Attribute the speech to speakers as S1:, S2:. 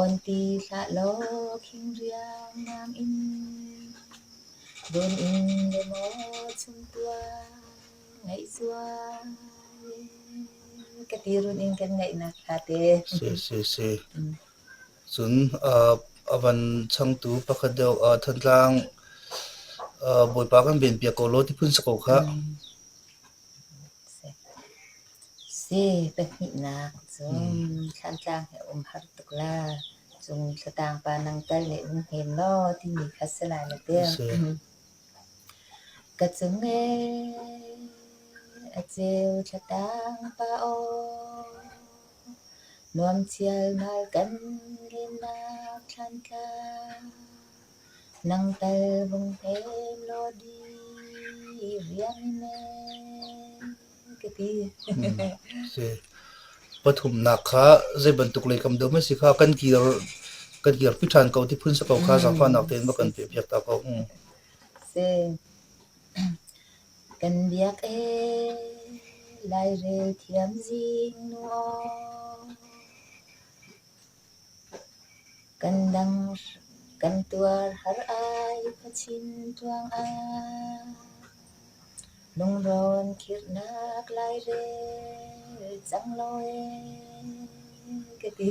S1: On ti hlah law khingriang nam in Dun in le maw chumtuang ngeih zual ka ti run in kan ngaihnak ṭha te. Si, si, si. Mm.
S2: Cun uh, a van changtu pakhat deuh uh, Thantlang uh, Bawipa kan benpiak ko law ti phun sa ko khah. Mm.
S1: Si pahnihnak cu Thlantlang hi a um har tuk la. Cun Thlataang pa nang tal nih nan hnem maw timi kha si lai na tir. Ka cung ee a ceu Thlataang pa aw. Nuam chialmal kan linak Thlantlang. Nang tal vung hem law di riang ne.
S2: Pathumnak kha zei bantuk leikam deuh maw si kha kan kir kan kirpi ṭhan ko ti phun si ko kha zaangfahnak tein va kan pehpiak ta ko. Mm. Si.
S1: Kan biak e lairel thiam zing nuo. Kan tuar har ai khuachin tuangah Lungrawn khirhnak lairel cang lo ee ka ti.